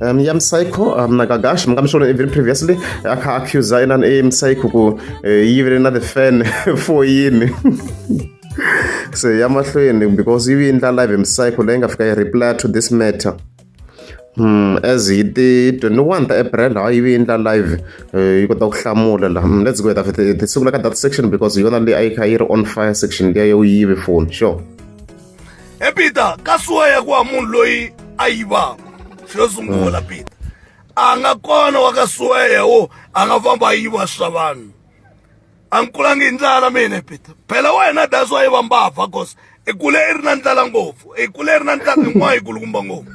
um, ya msayikho um, nakagash mungamishona even previously akha-accusa enani e msayikho ku uh, eh, yivele na the fan for yini so ya mahlweni because yi vi ndla live msayikho leyi nga fika yi reply to this matter Hmm, as hi ti 21 ta april ha yi vi endla live eh, yi kota ku hlamula la hmm, let's go hi ta hi sungula ka data section because hi yona leyi a yi kha yi ri on fire section liya yo yive phone sure he peter ka suwa ya ku wa munhu loyi a yivaka xo sungula mm. peter a nga kona wa ka suwa ya wo a nga famba a yiva swa vanhu a ni kulangi hi ndlala mina peter phela wena that's why va mbava cause i kule i ri na ndlala ngopfu i kule i ri na ndlala yin'wana yi kulukumba ngopfu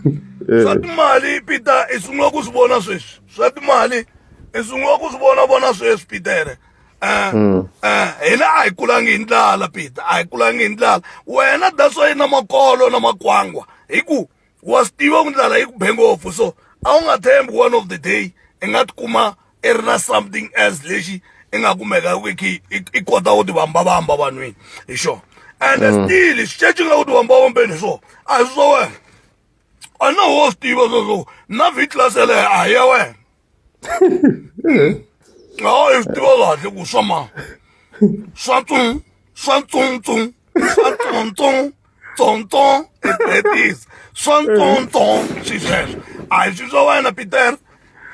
eh. swa timali peter i sungula ku swi vona sweswi swa timali i sungula ku swi vona vona sweswi petere Eh, mm. eh, hina a hi kulangi hi ndlala peter a hi kulangi hi ndlala wena that's why na makolo na makwangwa hi ku wa swi tiva ku ndlala yi ku be ngopfu so a wu nga thembi one of the day i nga tikuma i ri na something else lexi i nga kumeka ku khe i kota ku tivambavamba vanhwini hi xona and mm. still xiceci nga ku tivambavambeni hi swona a hi swi swa wena a na wo swi tiva sweswo na vhiclass yeleyo a hi ya wena hayi swi tiva kahle ku swa ma swa tsung swa tsungtsung swa tsontsong tsontsong etis swa ntsontsong swi sweswo a hi swi swa wena peter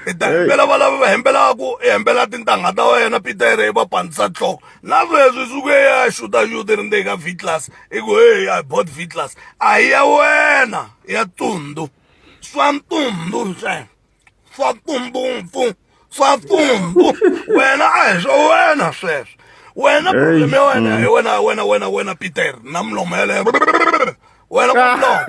i ta hembela va lava va hembelaka i hembela tintangha ta wena peter i va pandzisa nhloko na sweswi suke ya xuta xuta ri ndzeni ka v class i ku heyi i bot v class a hi ya wena ya tundu swa ntundu ntsena fa pfumpfumpfu fa pfumpfu wena a hi swa wena sweswo wena problem ya wena mm. hi wena wena wena wena peter na mulomo yeleyo wena kumlomo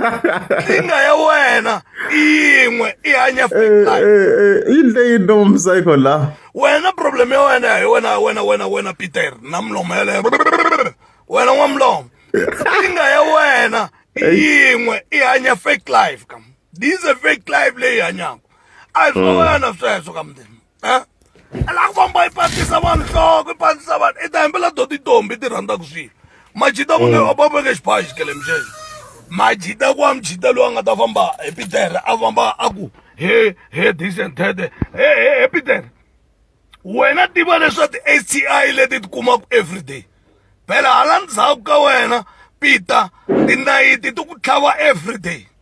nkingha ya wena yin'we i hanya eh, eh, eh, yini leyi ndomsayikho la wena problem ya wena hi wena wena wena wena peter na mulomo yeleyo wena n'wamlomo nkingha ya wena yin'we i hanya fake life kam this is a fake life leyi hanyaka a hi swin'wana mm. sweswo ka mundeni eh? a la ku famba yi patisa vanhu nhloko yi patisa vanhu i ta hembela do titombi ti rhandzaka swilo majita va mm. va veke xibayi xikele mixexo majita ku wa mujita loyi a nga ta famba hi pitere a famba a ku he he this and that he he he pitere wena tiva leswa ti-s t i leti ti kumaka everyday phela hala ndzhaku ka wena pita tinayiti ti ku tlhava everyday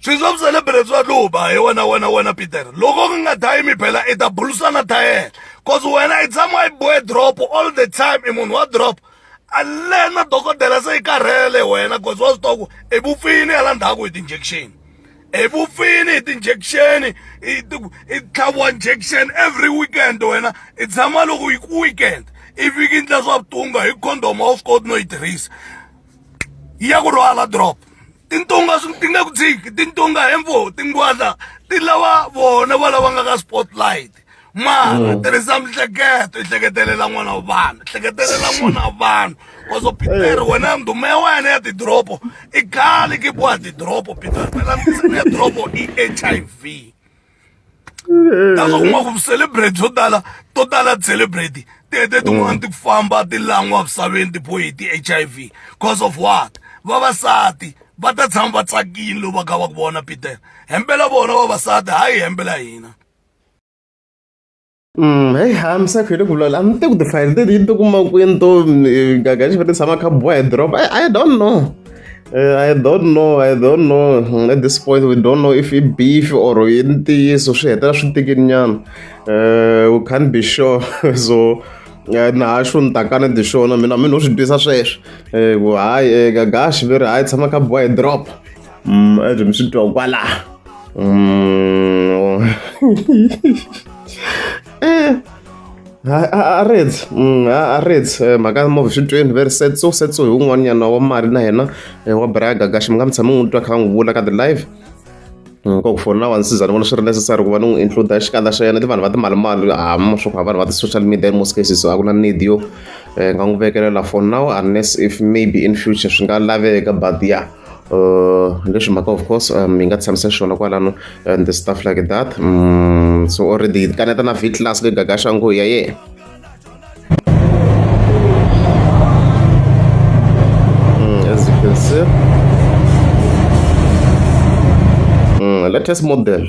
swilo swa vuselebireti swa luba hi wena wena wena peter loko ku nga dayi miphela i ta bulusana ta yena cause wena i tshama i boe drop all the time i munhu wa drop alena dokodela se i karhele wena cause wa swi tiva ku i vupfini hala ndzhaku hi ti-injection hi vupfini hi ti-injection i tlhaviwa injection every weekend wena i tshama loko hi ku weekend i viki ndla swa vutunga hi condom a wu swi koti no yi tirhisa ya ku rhwala drop tintonga ti nga ku dziki tintonga hembo tingwadla ti lava vona va lava nga ka spotlight mara mm. tirhisa mihleketo i hleketelela n'wana wa vanhu hleketelela n'wana wa vanhu koso peter eh. wena ndhuma ya wena ya tidoropo i khale ki boha tidoropo peter phela ya doropo i h i v that's kuma ku celebrate byo tala to tala celebrate tete tin'wana ti famba ti lan'wa misaveni tipho hi ti-hiv cause of what vavasati va ta tshama va tsakile loko va kha va ku vona peter hembela vona vavasati hayi hembela hina heyi ha mi sakho hi le ku vulavula a ni te ku tifayili teti yi ti kuma kwini to gaga xi va ti tshama kha boha hi doroba i don't know eh, I don't know, I don't know. Hmm, at this point, we don't know if it's beef or ntiyiso swi hetela swi tikini nyana. Eh, we can't be sure. so eh, na ha xo ni takana ti xona mina mi no swi twisa sweswo. Ku hayi gagashi ve ri hayi tshama kha boha hi drop. Mm, as mi swi twa kwala mm. eh, a reds mm, a reds eh, mhaka move swi tweni very sad so sad so hi un'wanyana wa mali na yena eh, wa braga gaxi mi nga mi tshami n'wi twa kha n'wi vula ka the live ka ku fona wa nsiza ni vona swi ri necessary ku va ni n'wi include xikandza xa yena ti vanhu va timalimali hama swo ku vanhu va ti-social media in most cases a ku na need yo nga n'wi vekelela for now unless if maybe in future swi nga laveka but ya yeah. Uh, leswi mhaka of course um, hi nga tshamisa xona kwalano and the stuff like that mm, so already kaneta na vitlas le gagaxa ngo ya ye mm, as you can see mm, latest model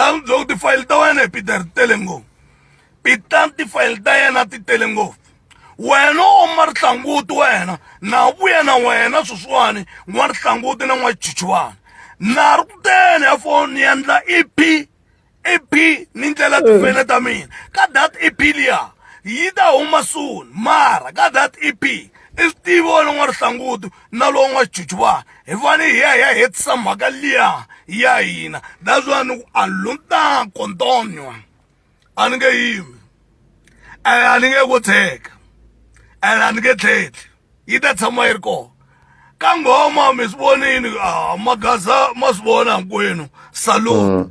a ndzi byela ku tifayili ta wena hi peter ti tele ngopfu peter tifayili ta yena ti tele ngopfu wena u ma rihlanguti wena na vuya na wena sweswiwani n'wa rihlanguti na n'wachichivana na ri kuteni ya foni ni endla ep ep ni ndlela tifene ta mina ka dat ep liya yi ta huma soon mara ka dat ep i swi tivi wena n'wa rihlanguti na lowu nga chuchuva hi vani hi ya hi ya hetisa mhaka liya ya hina that's why ni ku a lunta kontonyo a ni nge yimi and a ni nge ku tsheka and a ni nge tlhetli yi ta tshama yi ri kona ka nghoma mi swi vonini a magaza ma swi vona hinkwenu salute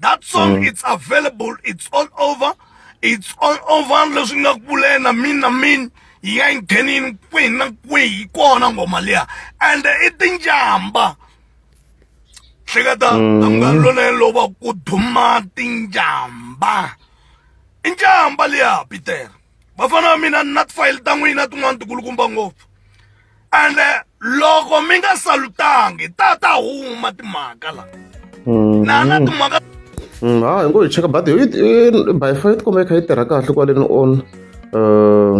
that song mm. it's available it's all over it's all over leswi nga ku vule na mini na mini yi nga yi nghenini kwihi na kwihi kona ngoma liya and i tinjamba hleketa mm. amngani lona loba ku duma tinjamba injamba liya peter vafana va mina ni na tifayili ta n'wina tin'wana ti kulukumba ngopfu ende loko mi nga salutangi ta ta huma timhaka la mm-hmm. na na timhaka mm, ha hi ngo hi cheka badi by far yi tikuma yi kha yi tirha kahle kwaleni on uh,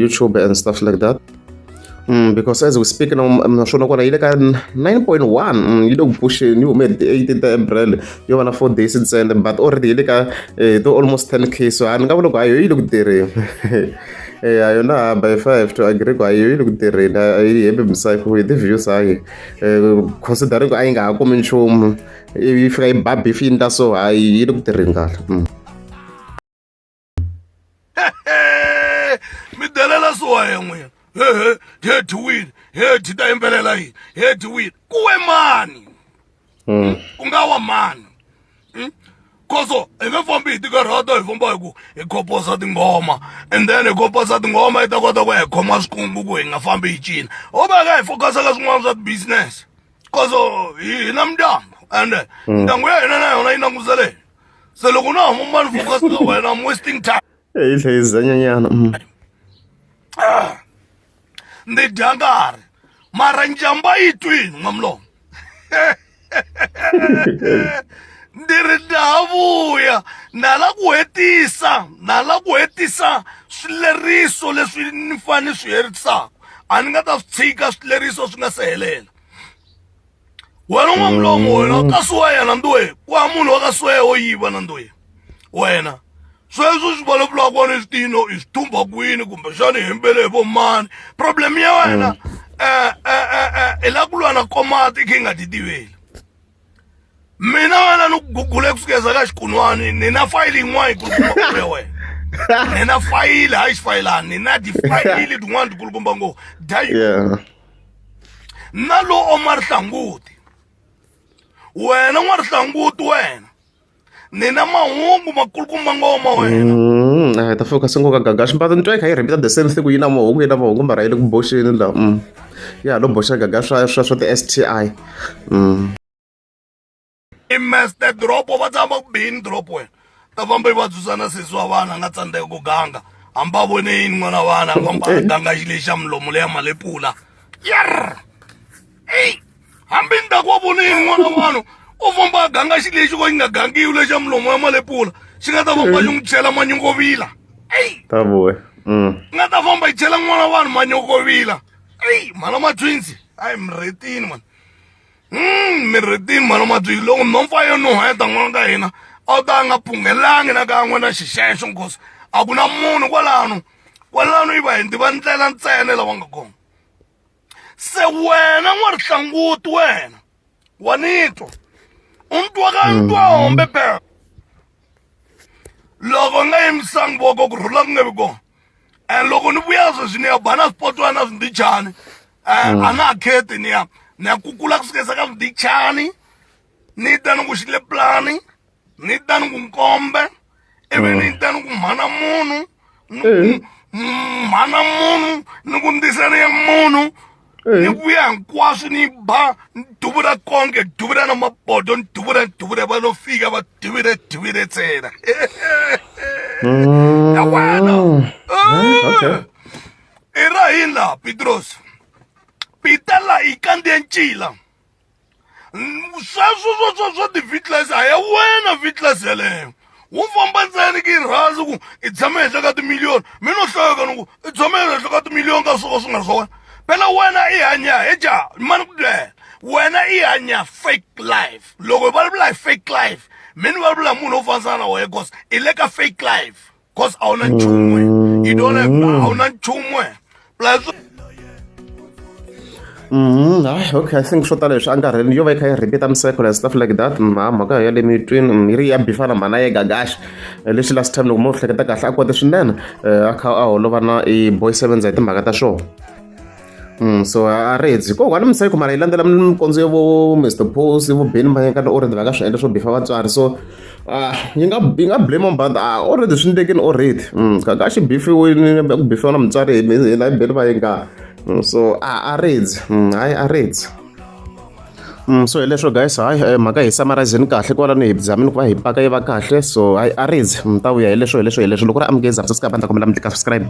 youtube and stuff like that Mm, because as we speak now mm, naswona kona yi le ka 9.1 mm, yi le ku pusheni yi hume hi ti-18 ta april yo va na four days ntsena but already yi le ka eh, to almost 10 k so a ni nga vula ku hayo yi le ku tirheni eh, a yona by five to agree ku hayo yi le ku tirheni a yi hembe misayifo hi ti-views hayi eh, considering ku a yi nga ha kumi nchumu yi fika yi ba beef yi ni ta so hayi yi le ku tirheni kahle mi delela swoya n'wina hehe he dyiwile he dyi ta yimbelela yini he dyiwile kuwe mani hmm? ku nga wa mani hmm? koso hi nge fambi hi tikarhata hi famba hi ku hi khoposa tinghoma and then hi khoposa tinghoma yi ta kota ku ya hi khoma swikungu ku hi nga fambi hi cina ho va ka hi focus ka swin'wana swa ti-business koso hi na mindyangu and hmm. ndyangu ya hina na yona yi languseleni se loko na huma mani focus ka wena i'm wasting time hi hlayiza nyanyana mm. ah, ndzi dya nkarhi mara njamba yi twini n'wamlomo ndzi ri ndavuya nala ku hetisa nala ku hetisa swileriso leswi ni fane swi herisaka a ni nga ta swi tshika swileriso swi nga se helela wena u n'wamulongo wena mm. kasi wa yena nduwe ku ha munhu wa ka sweya wo yiva na nduwe wena sweswo swi vulavulaka wena i switino i swi thumba kwini kumbe xana i hembele hi vomani problem ya wena mm. eh, eh, eh, hi la ku lwa na komati i khe i nga ti tiveli mina wena ni ku gugule ku sukeza ka xikunwani ni na fayili yin'wana yi kulukumba kule wena ni na fayili hayi xifayilani ni na tifayili tin'wana ti kulukumba ngo dayi na lowo ma rihlanguti wena n'wa rihlanguti wena nina mahungu makulukumba ngoma wena mm, a hi ta fika sengoka gaga swimbalo ni twa kha yi rhembita the same thing ku yi na mahungu yi na mahungu mba rhayele ku boxeni la mm. ya lo boxa gaga swa swa swa ti-s t i mm. i meste dropo va tshama ku bini dropo wena ta famba yi vatswisana sesi wa vana a nga tsandzeka ku ganga hambi a vone yini n'wana vana a famba a ganga xi lexi xa mulomo leya malepula yer eyi hambi ni ta ku wa vone yini n'wana vanhu u famba a ganga xi lexi ko xi nga gangiwi lexa mulomo ya malepula xi nga ta famba xi n'wi chela manyongovila eyi ta vuya mm. nga ta famba yi chela n'wana vanhu manyokovila eyi mhana matwinsi a hi mretini mani Hmm, Mirritin mhana Matliki, loko nhompfu a yo nuheta n'wana ka hina a wu ta nga punghelangi na kan'we na xixexo nkosi a ku na munhu kwalano kwalano yi va hi ndiva ndlela ntsena lava nga kona se wena n'warihlanguti wena wa nitwa u ntwa ka ntwa mm-hmm. hombe phela loko nga yimisangi voko ku rhula ku nge vi kona and loko ni vuya sweswi ni ya ba na swipotwana na swindichani um mm. a na ha kheti ni ya ni ya kukula ku sukisa ka swindichani ni ta ni ku xi le pulani ni ta ni ku nkombe ivi ni mm. ta ni ku mhana munhu eh. mhana munhu ni ku ndisaniya munhu ni vuya hinkwaswo ni ba ni duvula konke duvula na mabodo ni duvula ni duvula va lo fika va duvile duvile ntsena Mm. ya wena okay. i ra yini laha pitrosi pita laha yi kandziye ncila sweswo swo swo swo ti-vitlas a ya wena vitlas yeleyo wu famba ntsena ki rhazi ku i tshame henhla ka timiliyoni mi no hlaweka ni ku i tshame henhla ka timiliyoni ka swo ka swi nga ri swa wena phela wena i hanya hi ja mani ku byela wena i hanya fake life loko hi vulavula hi fake life mi ni vulavula hi munhu wo fanisana na wena cause i le ka fake life cause a wu na nchumu you don't have mm. a wu na nchumu plus Mm, ay, okay, I think swo tala leswi angarheli yo va yi kha yi repeat miseko and stuff like that mm, ha mhaka ya le mitwini mm, yi ri ya bifana mhana ye gagaxi eh, leswi last time loko mo hleketa kahle a kote swinene eh, a kha a holova na i boy sevenza hi timhaka ta swona so a ri heti ko one mistake mara yi landzela mikondzo ya vo Mister Paul vo Benny Mayengani already va nga swi endla swo bifa vatswari so yi nga yi nga blame but already swi endlekini already ka ka xi bifiwile ku bifiwa na mutswari hi hina hi Benny Mayengani so a ri heti hayi a ri heti so hileswo guys hayi mhaka hi summarizini kahle kwalano hi zamini ku va hi paka yi va kahle so hayi a ri heti mi ta vuya hileswo hileswo hileswo loko ri amukeza sasika bandla kombela mi tlika subscribe